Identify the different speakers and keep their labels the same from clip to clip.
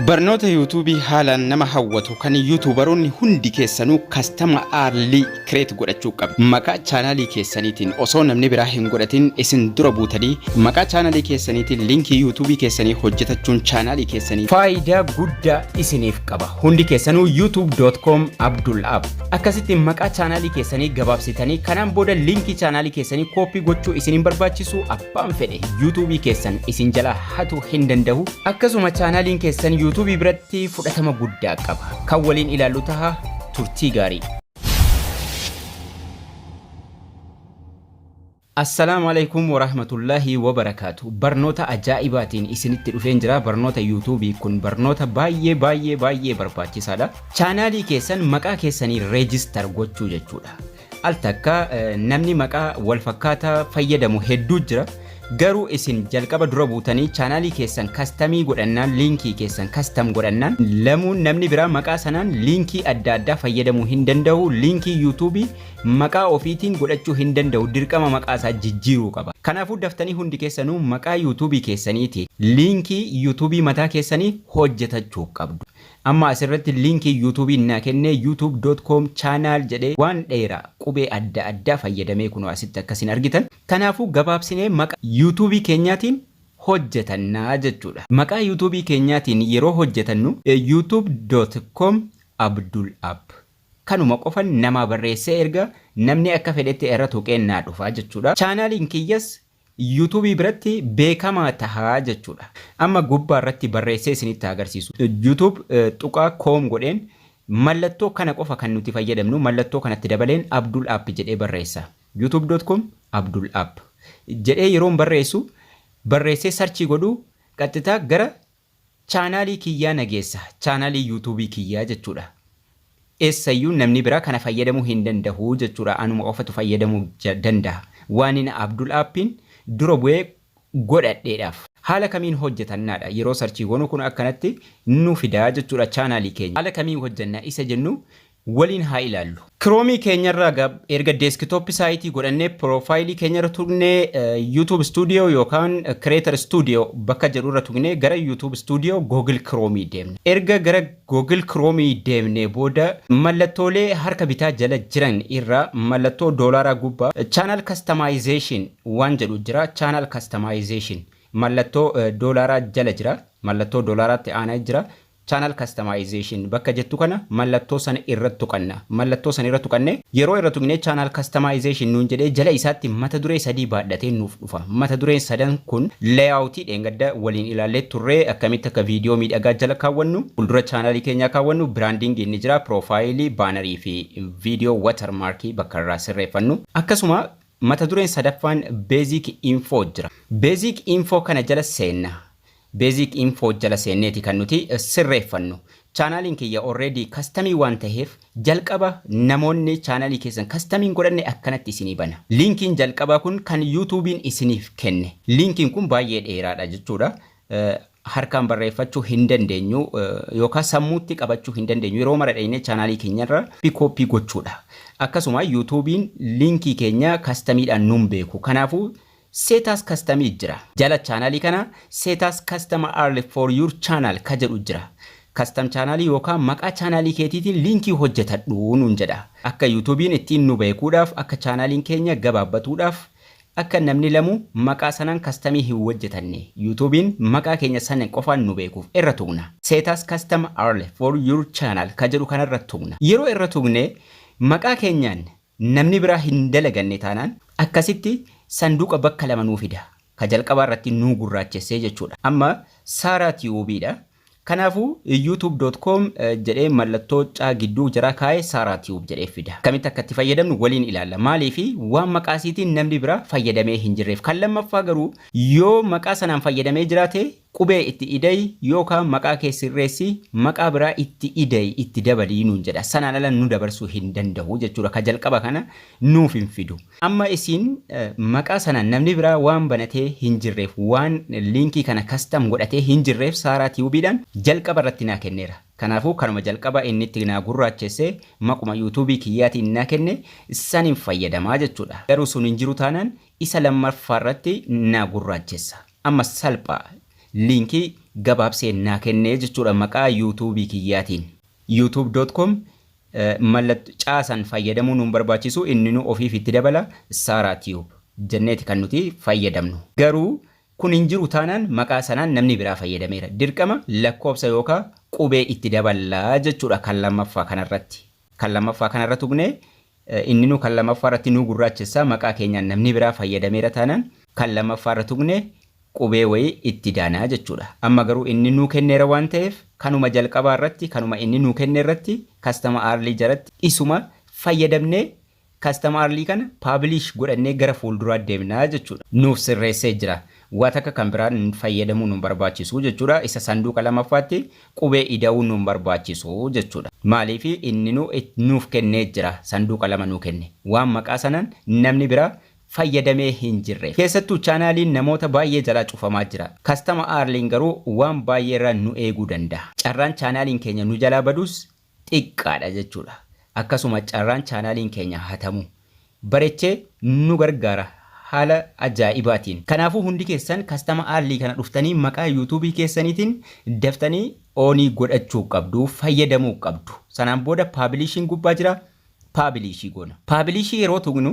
Speaker 1: Barnoota Yuutuubii haalaan nama hawwatu kan Yuutuubaroonni hundi keessanuu kastama Aarlii kireet godhachuu qabdu. Maqaa chaanaalii keessaniitiin osoo namni biraa hin godhatin isin dura buutanii maqaa chaanaalii keessaniitiin liinkii Yuutuubii keessanii hojjetachuun chaanaalii keessanii faayidaa guddaa isiniif qaba. Hundi keessanuu youtube.com Abdul App. Akkasitti maqaa chaanaalii keessanii gabaabsitanii kanaan booda liinkii chaanaalii keessanii kooppii gochuu isin hin barbaachisu. abbaan fedhe yuutuubii keessan isin jala hatu hin danda'u akkasuma chaanaaliin keessan yuutuubii biratti fudhatama guddaa qaba kan waliin ilaallu taha turtii gaarii. Assalaamu alaikum warahmatullaahi wabarakaatu. Barnoota ajaa'ibaatiin isinitti dhufeen jira. Barnoota yuutuubii kun barnoota baay'ee baay'ee baay'ee barbaachisaadha. Chaanaalii keessan maqaa keessaniin reejistar gochuu jechuudha. Al takka namni maqaa wal fakkaataa fayyadamu hedduu jira. Garuu isin jalqaba dura buutanii chaanaalii keessan kastamii godhannaan liinkii keessan kastam godhannaan lamuun namni biraa maqaa sanaan liinkii adda addaa fayyadamuu hin danda'u. Liinkii yuutuubii maqaa ofiitiin godhachuu hin danda'u. Dirqama maqaa isaa jijjiiruu qaba. Kanaafuu daftanii hundi keessanuu maqaa yuutuubii keessaniitiin liinkii yuutuubii mataa keessanii hojjetachuu qabdu. Amma asirratti liinkii youtube naa kennee youtube dot com channel jedhee waan dheeraa qubee adda addaa fayyadamee kunoo asitti akka isin argitan kanaafuu gabaabsinee maqa youtube keenyaatiin hojjetanna jechuudha. Maqaa youtube keenyaatiin yeroo hojjetannu youtube dot com abdul app kanuma qofan namaa barreessee ergaa namni akka fedhetti irra tuqee naa dhufa jechuudha. Channel kiyyas YouTube biratti beekamaa taha jechuudha. Amma gubbaa irratti barreessee isinitti haa agarsiisu. YouTube tuqaa com godheen mallattoo kana qofa kan nuti fayyadamnu mallattoo kanatti dabaleen Abdul App jedhee barreessa. youtube.com Abdul App jedhee yeroon barreessu barreessee sarchii godhu qaxxitaa gara Chaanaalii kiyyaa na geessa. Chaanaalii youtube kiyyaa jechuudha. Eessayyuu namni biraa kana fayyadamuu hin dandahu jechuudha anuma qofatu fayyadamuu dandaha. Waanin Abdul App'n dura bu'ee godhadheedhaaf. Haala kamiin hojjatannaadha yeroo sarchii goonu kun akkanatti nu fida jechuudha chaanaalii keenya. Haala kamiin hojjanna isa jennu waliin haa ilaallu. Chrome keenyarra erga desktop site godhannee profile keenyarra tuqnee YouTube studio yookaan creator studio bakka jedhu irra tuqnee gara YouTube studio Google Chrome deemna. Erga gara Google Chrome deemnee booda mallattoolee harka bitaa jala jiran irra mallattoo doolaaraa gubbaa channel customization waan jedhu jira channel customization mallattoo doolaaraa jala jira mallattoo doolaaraatti aanaa jira Channel Customization bakka jettu kana mallattoo sana irra tuqanna. Mallattoo sana irra tuqanne. Yeroo irra tuqne Channel Customization nuun jedhee jala isaatti mata duree sadii baadhatee nuuf dhufa. Mata dureen sadan kun Layout dheengadda waliin ilaallee turre akkamitti akka video miidhagaa jala kaawwannu, fuuldura channel keenyaa kaawwannu, branding inni jira, profile, banner fi video watermark bakka irraa sirreeffannu. Akkasuma mata dureen sadaffaan Basic Info jira. Basic Info kana jala seenna. Basic info jala seenneeti kan nuti sirreeffannu. Chaanaaliin kiyya already custom waan taheef jalqaba namoonni chaanaalii keessan custom hin godhanne akkanatti isinii bana. Linkiin jalqabaa kun kan YouTube'n isiniif kenne. Linkiin kun baay'ee dheeraadha jechuudha. Harkaan barreeffachuu hin dandeenyu yookaan sammuutti qabachuu hin dandeenyu. Yeroo mara dhaynee chaanaalii keenyarra copy copy gochuudha. Akkasuma YouTube'n linkii keenya custom dhaan nun beeku. Kanaafuu Setas custom jira. Jala channel kana setas custom early for your channel ka jedhu jira. Custom channel yookaa maqaa channel keetiitiin liinkii hojjetadhu nuun jedha. Akka youtube'n ittiin nu beekuudhaaf akka channel'n keenya gabaabbatuudhaaf akka namni lamu maqaa sanaan custom hin wojjetanne youtube'n maqaa keenya san qofaan nu beekuuf irra tuqna. Setas custom early for your channel ka jedhu kanarra tuqna. Yeroo irra tuqne maqaa keenyaan Namni biraa hin dalaganne taanaan akkasitti sanduuqa bakka lama nuu fida. Ka jalqabaa irratti nuu gurraachessee jechuudha. Amma Saaraa Tiyuubii dha. Kanaafuu YouTube dot com jedhee mallattoo caa gidduu jaraa kaa'ee Saaraa Tiyuub jedhee fida. Akkamitti akka itti fayyadamnu waliin ilaalla. Maaliif waan maqaa isiitiin namni biraa fayyadamee hin jirreef. Kan lammaffaa garuu yoo maqaa sanaan fayyadamee jiraate Qubee itti ida'i yookaa maqaa kee sirreessi, maqaa biraa itti ida'i, itti dabali nuun jedha. Sanaan ala nu dabarsuu hin danda'u jechuudha. Ka jalqaba kana nuuf hin fidu. Amma isin maqaa sanaan namni biraa waan banatee hin jirreef, waan liinkii kana custom godhatee hin jirreef Saaraa Tube dhaan jalqaba irratti naa kenneera. Kanaafuu kanuma jalqaba inni itti naa gurraachesse maquma YouTube kiyyaatiin naa kenne sanin fayyadama jechuudha. Garuu sun hin jiru taanaan isa lammaffaa irratti naa gurraachessa. Amma salpha. Liinkii gabaabsee naa kennee jechuudha maqaa youtube kiyyaatiin. YouTube dot com mallatto caasan fayyadamuu nun barbaachisu inninu ofiif itti dabala Sara tube jenneeti kan nuti fayyadamnu. Garuu kun hin jiru taanaan maqaa sanaan namni biraa fayyadameera. Dirqama lakkoofsa yookaa qubee itti daballa jechuudha kan lammaffaa kanarratti. Kan lammaffaa kanarra tuqnee inninuu kan lammaffaa irratti nuu gurraachessa maqaa keenyaan namni biraa fayyadameera taanaan kan lammaffaarra tuqnee qubee wayii itti daana jechuudha. Amma garuu inni nuu kenneera waan ta'eef kanuma jalqabaa irratti kanuma inni nuu kenne irratti customer early jalatti isuma fayyadamnee Custom Arly kana publish godhannee gara fuulduraa deemna jechuudha. Nuuf sirreessee jira. Waa takka kan biraa fayyadamuu nun barbaachisu jechuudha. Isa sanduuqa lamaffaatti qubee ida'uu nun barbaachisu jechuudha. Maaliif inninuu nuuf kennee jira. Sanduuqa lama nuu kenne. Waan maqaa sanaan namni biraa fayyadamee hin jirreef. Keessattuu chaanaaliin namoota baay'ee jalaa cufamaa jira. Custom Arly'n garuu waan baay'eerraa nu eeguu danda'a. Carraan chaanaaliin keenya nu jalaa badus xiqqaadha jechuudha. Akkasuma carraan chaanaaliin keenya hatamu bareche nu gargaara haala ajaa'ibaatiin. Kanaafuu hundi keessan kastama aarlii kana dhuftanii maqaa yuutuubii keessaniitiin daftanii oonii godhachuu qabdu, fayyadamuu qabdu. Sanaan booda paabiliishiin gubbaa jira, paabiliishii goona. Paabiliishii yeroo tuqnu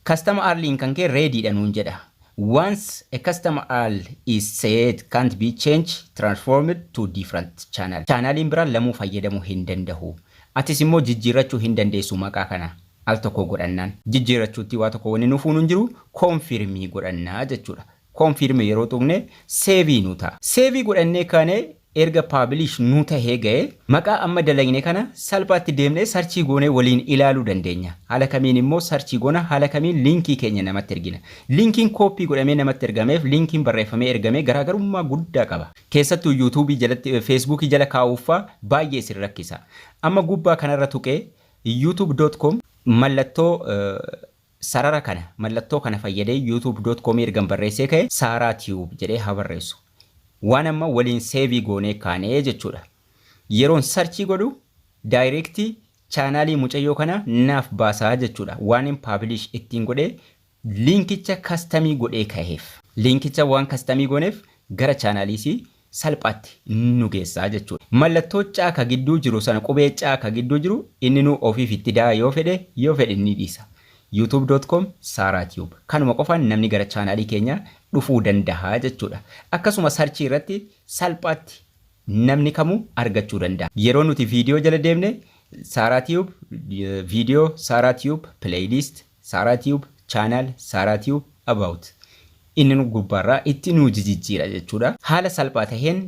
Speaker 1: Customer url in kan kee ready dha nuun jedha. Once a customer url is set can't be changed, transformed to different channel. Chaanaliin biraa lamuu fayyadamuu hin dandahu. Atis immoo jijjiirrachuu hin dandeessu maqaa kana al tokkoo godhannaan. Jijjiirrachuuttii waa tokko wanni nu fuunu hin jiru confirm godhanna jechuudha. Confirm yeroo tuqne save nu ta'a. Save godhannee kaanee erga publish nu tahee ga'e maqaa amma dalagne kana salphaatti deemnee search goonee waliin ilaaluu dandeenya. Haala kamiin immoo search goona haala kamiin linkii keenya namatti ergina. Linkiin copy godhamee namatti ergameef linkiin barreeffamee ergamee garaagarummaa guddaa qaba. Keessattuu youtube jalatti facebook jala kaa'uuf faa baay'ee isin rakkisa. Amma gubbaa kanarra tuqee youtube.com mallattoo Sarara kana, mallattoo kana fayyadee YouTube dot com ergan barreessee ka'e Saaraa Tube jedhee haa barreessu. Waan amma waliin seevii goonee kaane jechuudha. Yeroon sarchii godhu direct chaanaalii mucayyoo kanaa naaf baasaa jechuudha. Waanin publish ittiin godhee linkicha custom godhee ka'eef. Linkicha waan custom gooneef gara chaanaalii isii salphaatti nu geessa jechuudha. Mallattoo C ka gidduu jiru sana qubee C ka gidduu jiru inninuu ofiif itti da'a yoo fedhe yoo fedhe ni dhiisa. youtube.com saaraatube kanuma qofaan namni gara chaanaalii keenyaa dhufuu dandaha jechuudha. Akkasuma sarchii irratti salphaatti namni kamuu argachuu dandaha. Yeroo nuti viidiyoo jala deemne saaraatube viidiyoo saaraatube playlist. Sara tube channel Sara tube about inni nu gubbaarraa itti nuu jijijjiira jechuudha. Haala salphaa taheen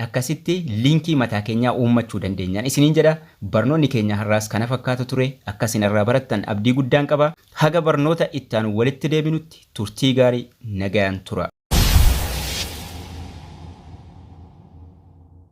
Speaker 1: akkasitti liinkii mataa keenyaa uummachuu dandeenyaan isiniin jedha. Barnoonni keenya har'aas kana fakkaata ture. Akka isin irraa barattan abdii guddaan qaba. Haga barnoota itti aanu walitti deebinutti turtii gaarii nagayaan tura.